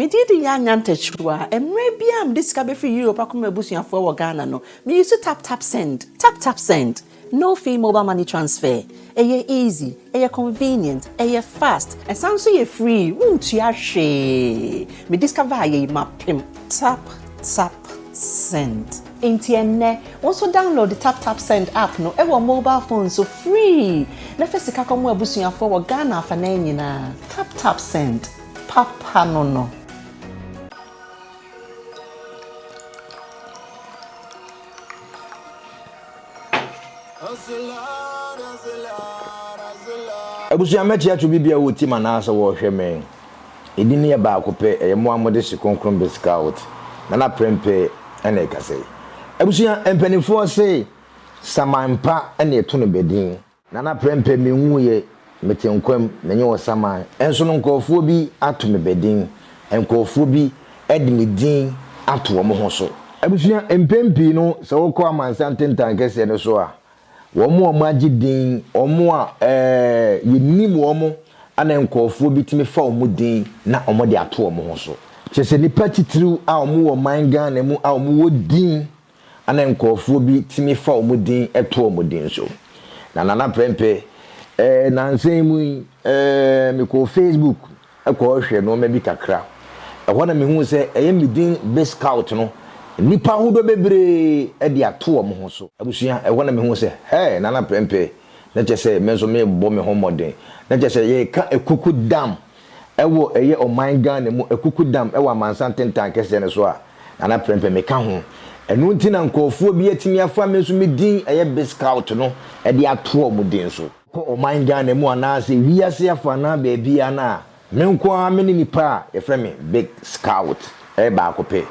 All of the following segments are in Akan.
Me din de Yaa Nyantakyiruwa. Mmerɛ biara a mede sika bɛfiri Europe akɔma m'abusuafoɔ wɔ Ghana no, me use tap tap send. Tap tap send. No fee mobile money transfer. Ɛyɛ easy, ɛyɛ convenient, ɛyɛ fast, ɛsan nso yɛ free, wontua hwee. Me discover ayɛ yi mapem. Tap tap send. Enti ɛnnɛ, wo nso download tap tap send app no wɔ mobile phone so free na fa sika kɔma w'abusuafoɔ wɔ Ghana afanan nyinaa. Tap tap send. Papa no no. Abusua mɛte ato bi bia wɔ tim anaa sɛ wɔrehwɛ me. Ɛdin no yɛ baako pɛ, ɛyɛ mo a mo de hye kronkron be scout. Nana prɛmpɛ ɛna ɛkasa yi. Abusua mpaninfoɔ se saman pa ɛna ɛto no bɛ din. Nana Prɛmpɛ me nwuiɛ mete nkwa mu menye wo saman nso no nkorɔfoɔ bi ato me bɛdin nkorɔfoɔ bi de me din ato wɔn ho so. Abusua mpɛn pii no sɛ wokɔ amansan tentan kɛseɛ no so a wɔn a wɔagye din wɔn a ɛɛ yɛnim wɔn na nkorɔfoɔ bi tumi fa wɔn din na wɔde ato wɔn ho so kyerɛ sɛ nnipa titiriw a wɔwɔ man Ghana mu a wɔwɔ din Ana nkorɔfoɔ bi tumi fa wɔn din to wɔn din so? Na Nana Prɛmpɛ, eh, nansa yi mu yi, eh, mekɔɔ Facebook kɔhwehwɛɛ nnoɔma bi kakra. Ɛhɔ na mehuu sɛ ɛyɛ me din Biscout no, nnipa ahodoɔ bebree de ato wɔn ho so. Abusua, ɛhɔ na mehuu sɛ, hɛɛ, Nana Prɛmpɛ, na kyerɛ sɛ me nso merebɔ me ho mmɔden. Na kyerɛ sɛ yɛreka akuku dam wɔ ɛyɛ ɔman Ghana mu akuku dam wɔ amansan tentan kɛseɛ no so a, Nana Prempeh me ka ho. Ɛno nti na nkorɔfoɔ bi atumi afa me nso me din ɛyɛ Biscout no de ato wɔn din so. Kɔ ɔman Ghana mu anaa sɛ wiase afa anaa baabiara no a, me nko ara me ne nipa a yɛfrɛ me Big Scout ɛyɛ baako pɛ.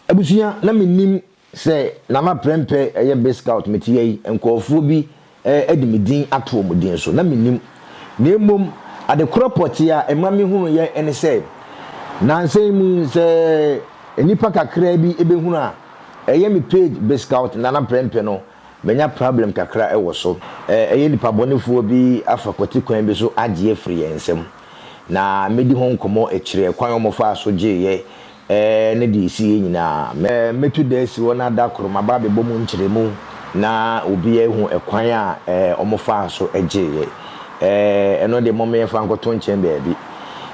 Abusua na me nim Sɛ na ma prɛmpɛ yɛ Bay Scout mete yɛ yi, nkorɔfoɔ bi de me din ato wɔn din so, na mennim. Na mmom, ade korɔ pɔtee a ɛma mehunuuiɛ ne sɛ, nnansa yi mu sɛ nnipa kakraa bi bɛhunu a, ɛyɛ me page Bay Scout Nana Prɛmpɛ no Manya problem kakra wɔ so. Ɛyɛ nipa bɔnefoɔ bi afa kwati kwan bi so agye afiri yɛn nsam. Na mɛdi ho nkɔmmɔ akyire ɛkwan a wɔfaa so gyeeɛ ne deɛ ɛsiiɛ nyinaa. Mɛtu da asi hɔ na da koro maba abɛbɔ mu nkyerɛmu na obiara ahu ɛkwan a wɔfaa so gyeeɛ. Ɛno deɛ momma yɛmfa nkɔto nkyɛn baabi.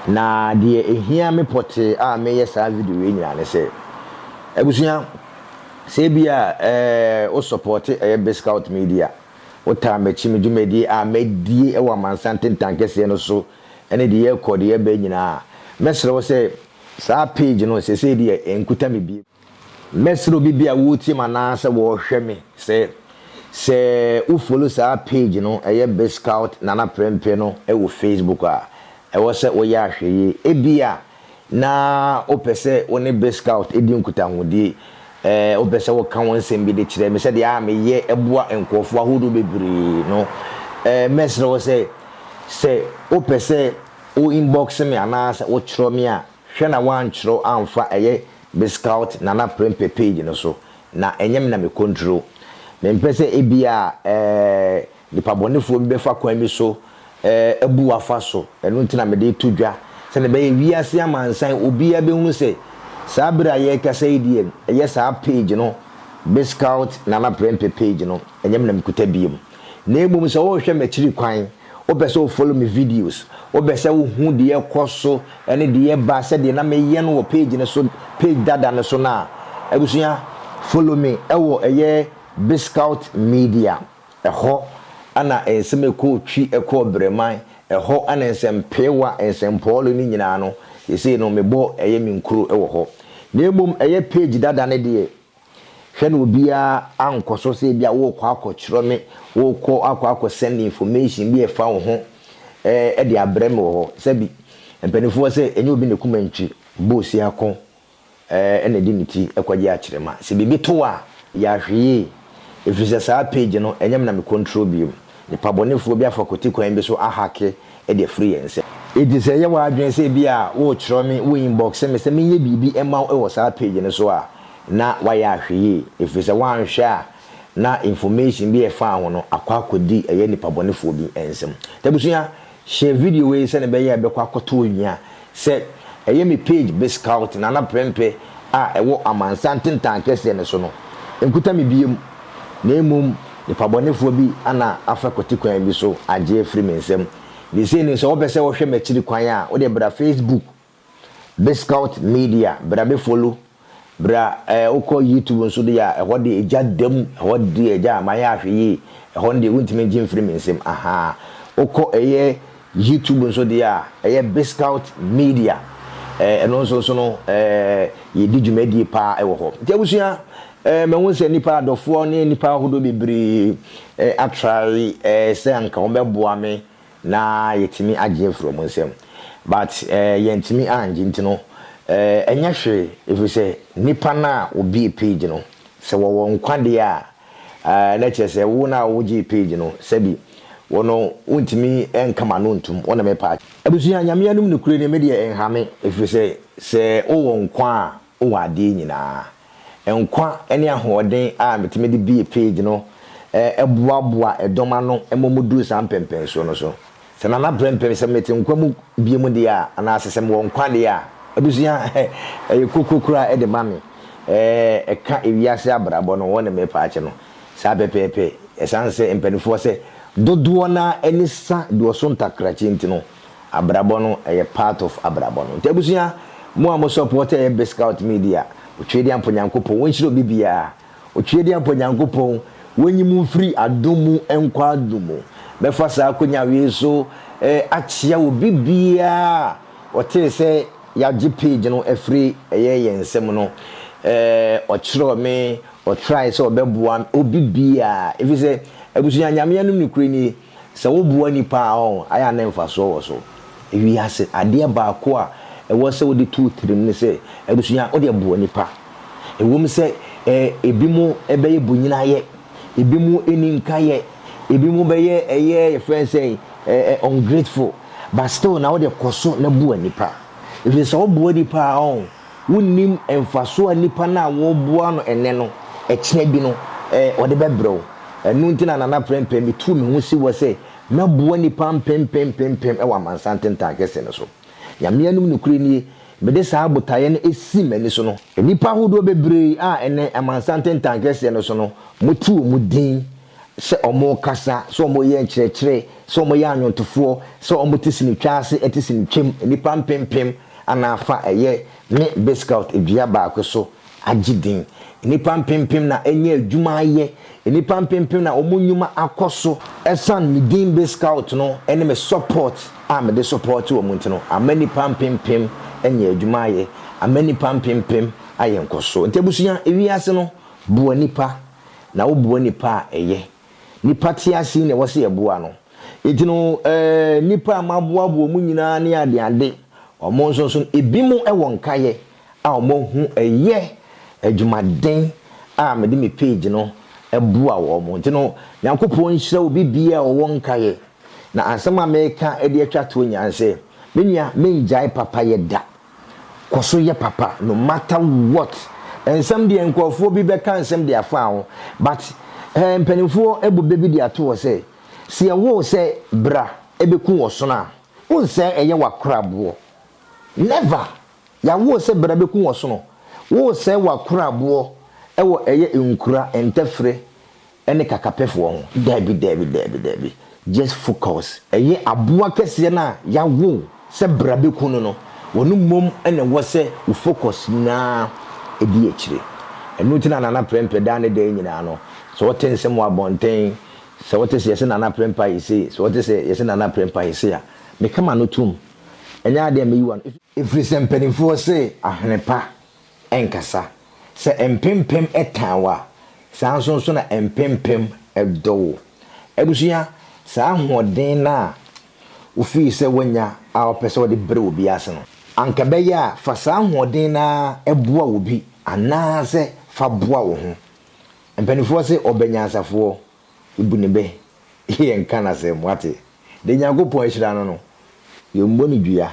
Na deɛ ɛhia me pɔtee a mereyɛ saa video wei nyinaa ne sɛ, abusua, Sɛ ebia wo sɔpɔte ɛyɛ BizScout Media, wotaa m'akyi me dwumadie a madie wɔ amansan ntentankeseɛ no so ne deɛ yɛrekɔ deɛ yɛreba nyinaa a, mɛsrɛ wo sɛ saa page no sesei deɛ ɛnkuta me bio. Mɛsrɛ obi bi a woretie me anaa sɛ wɔrehwɛ me sɛ, sɛ wo follow saa page no ɛyɛ BizScout Nana Prempeh no wɔ Facebook a, ɛwɔ sɛ woyɛ ahwɛyie. Ebia. na wopɛ sɛ wo ne Boy Scout di nkutahodie, ɛɛ, wopɛ sɛ woka wo nsɛm bi de kyerɛ me sɛdeɛ a meyɛ boa nkurɔfoɔ ahodoɔ bebree no, ɛɛ, mɛsrɛ wo sɛ, sɛ wopɛ sɛ wo inbox me anaa sɛ wotwerɛ me a, hwɛ na woantwerɛ amfa ɛyɛ Boy Scout Nana Prempeh page no so, na ɛnyɛ me na me control. Mempɛ sɛ ebia, ɛɛ, Nipabɔnefoɔ bi bɛfa kwan bi so abu wo afa so, ɛno nti na mede reto dwa, sɛdeɛ ɛbɛyɛ wiase amansan obiara bɛhunu sɛ saa berɛ a yɛrekasa yi deɛ ɛyɛ saa page no, Bizcout Nana Prempeh page no, ɛnyɛ me na mekuta bio. Na mmom sɛ worehwɛ m'akyiri kwan, wopɛ sɛ wo follow me videos, wopɛ sɛ wohu deɛ ɛrekɔ so ne deɛ ɛreba sɛdeɛ na meyɛ no wɔ page no so, page dada no so no a, abusua, follow me wɔ ɛyɛ Bizcout Media. Ɛhɔ na nsɛm a ɛkɔɔ Twi, ɛkɔɔ Bereman, ɛhɔ na nsɛmpeewa, nsɛmpɔɔle no nyinaa no, seesei no mebɔ ɛyɛ me nkuro wɔ hɔ. Na mmom ɛyɛ page dada no deɛ, hwɛ na obiara ankɔ so sɛ ebia worekɔ akɔtwerɛ me, worekɔ akɔ akɔ send information bi a ɛfa wo ho de abrɛ me wɔ hɔ. Sɛbi, mpanimfoɔ se ɛnyɛ obi na kumantwi bɔ osiako. na ɛde ne ti kɔgye akyerema. Sɛ biribi to wo a, yɛ ahwɛyie, ɛfiri sɛ saa page no, ɛnyɛ me na me control bio. Nnipa bɔnefoɔ bi afa kwati kwan bi so ahake de afiri yɛn nsam. Enti sɛ ɛyɛ w'adwene sɛ ebia worekyerɛ me, wo inbox me sɛ menyɛ biribi mma wo wɔ saa page no so a, na woayɛ ahwɛyie, ɛfiri sɛ woanhwɛ a na information bi a ɛfa wo ho no akɔ akɔdi ɛyɛ nnipa bɔnefoɔ bi nsam. Nti abusua, Share video wei sɛnea ɛbɛyɛ a ɛbɛkɔ akɔtɔ owia a sɛ ɛyɛ me page Biscout Nana Prempeh a ɛwɔ amansan ntentan kɛseɛ no so no nkuta me biom na mmom nipabɔnefoɔ bi ana afa kwati kwan bi so agye afiri me nsam. Ne sei no sɛ wopɛ sɛ wohwɛ m'akyiri kwan a wodeɛ bra Facebook Biscout media bra me follow bra eh wokɔ YouTube nso deɛ a ɛhɔ deɛ egya da mu ɛhɔ deɛ egya mayɛ ahwɛ yie ɛhɔ no deɛ wontumi ngye mfiri me nsam ahaa wokɔ ɛyɛ YouTube nso deɛ a ɛyɛ Biscout media eh ɛno nso so no eh yɛdi dwumadie paa ɛwɔ hɔ nti abusua eh mahu sɛ nnipa adɔfoɔ ne nnipa ahodoɔ bebree eh atrae eh sɛ anka wɔbɛboa me na yɛtumi agye afiri wɔn nsam but eh, yɛntumi angye nti no eh, ɛnyɛ hwee ɛfiri sɛ nnipa no a wɔbie page no sɛ wɔwɔ nkwa deɛ a eh, na kyerɛ sɛ wo no a wogyee page no sɛbi wo no wontumi nka ma no ntom wo ne me pa. Abusua nyame anom nokorɛ ni me deɛ nhame ɛfiri sɛ sɛ wowɔ nkwa a wɔ adeɛ nyinaa. Nkwa ne ahoɔden a metumi de bue page no boaboa dɔm ano ma wɔduru saa mpɛnpɛnsoɔ no so. Sɛ Nana prɛmpɛm, sɛ mete nkwa mu biom deɛ a, anaasɛ sɛ mewɔ nkwa deɛ a, abusua ɛyɛ kokro koraa de ma me. Ɛka ewiase abrabɔ no ho ne me paakyɛ no saa pɛpɛɛpɛ. Ɛsiane sɛ mpaninfoɔ sɛ dodoɔ no ara ani sa duɔso ntakrakyi nti no, Abrabɔ no ɛyɛ part of abrabɔ no nti abusua mo a mo support ɛyɛ bscout media otweediampo nyankopɔn wonhyira obi biaa otweediampo nyankopɔn wonyi mo mfiri adom mu nkɔ adom mu mɛfa saa akonya wei so akyea obi biaa a ɔtee sɛ yagye page no afiri ɛyɛ yɛn nsam no ɔkyerɛw me ɔtry sɛ ɔbɛboa me obi biaa ɛfiri sɛ abusua nyame anom no kuro nie Sɛ woboa nnipa a, ɛyɛ a na mfasoɔ wɔ so. Ewiase adeɛ baako a ɛwɔ sɛ wode to wo tirim ne sɛ, adesua, wodeɛ boa nnipa. Ɛwom sɛ ebinom bɛyɛ bonyinayɛ, ebinom nni nkayɛ, ebinom bɛyɛ ɛyɛ yɛfrɛ no sɛn, ungrateful, but still na wodeɛ kɔ so na boa nnipa. Ɛfiri sɛ sɛ woboa nnipa a, Wonnim mfaso a nipa no a wɔreboa no nnɛ no, ɛkyena bi no, ɔde bɛbrɛ wo. Ɛno nti na Nana Prempeh, mituu me ho si hɔ sɛ mɛboa nnipa mpempem mpempem wɔ amansan ntentan kɛse no so. Nyame anom nokorɛ nie, mede saa botaeɛ no sii m'ani so no, nnipa ahodoɔ bebree a ɛnɛ amansan ntentan kɛseɛ no so no, mote wɔn din sɛ wɔrekasa, sɛ wɔreyɛ nkyerɛkyerɛ, sɛ wɔyɛ anwontofoɔ, sɛ wɔte sinitwa ase te sinitwam, nnipa mpempem anaa fa ɛyɛ ne Biscout dua baako so agye din. Nnipa mpempem na anya adwuma ayɛ, nnipa mpempem na wɔn nnwuma akɔ so. Ɛsiane me din Biscout no ne me support a mede support wɔn nti no, ama nnipa mpempem anya adwuma ayɛ, ama nnipa mpempem ayɛ nkɔsoɔ. Nti abusua, wiase no boa nnipa. na woboa nnipa a ɛyɛ. Nnipa te ase na ɛwɔ sɛ yɛboa no. Enti no, eh, nnipa a maboaboa wɔn nyinaa ne adeade, wɔn nso so no, ebinom wɔ nkaeɛ a wɔahu ɛyɛ adwumaden a mede me page no boa wɔn. Enti no, Nyankopɔn nhyira obi biara a ɔwɔ nkaeɛ. Na asɛm a meka de atwa toɔ nyinaa ne sɛ, me nua, menngyae papayɛ da. Kɔ so yɛ papa no matter what. Nsɛm deɛ nkurɔfoɔ bi bɛka nsɛm de afaa ho but eh, mpanimfoɔ abu bɛ bi de ato hɔ sɛ, sɛ yɛwoo sɛ bra bɛku ɔsono a, wonsɛe ɛyɛ w'akoraboɔ. Never! Yɛawoo sɛ bra bɛku ɔsono, woresɛe w'akoraboɔ wɔ ɛyɛ nkura, ntɛfrɛ, ɛne kakapɛfoɔ ho daabi daabi daabi daabi just focus. Ɛyɛ aboa kɛseɛ no a yawo sɛ bra bɛku no no ɔno mmom na ɛwɔ sɛ wo focus nyinaa ɛdi akyire ɛno nti na Nana Prɛmpɛ daa ne dɛɛ nyinaa no sɛ wote nsɛm wɔ abɔnten sɛ wote sɛ yɛse Nana Prɛmpɛ ayɛ sei sɛ wote sɛ yɛse Nana Prɛmpɛ ayɛ sei a meka m'ano tom ɛnyɛ adeɛ a mɛyi w'ano ɛfiri sɛ mpaninfoɔ se ahene pa nkasa. Sɛ mpempem tan wo a, saa nso nso na mpempem dɔ wo. Abusua, saa ahoɔden no a wofii sɛ woanya a wopɛ sɛ wode brɛ obi ase no, anka ɛbɛyɛ a fa saa ahoɔden no ara boa obi anaasɛ fa boa wo ho. Mpanimfoɔ se ɔbɛnyansafoɔ bu ne bɛ yɛ nka no asɛm, woate. Deɛ Nyankopɔn ahyira no no, yɛmmɔ no dua.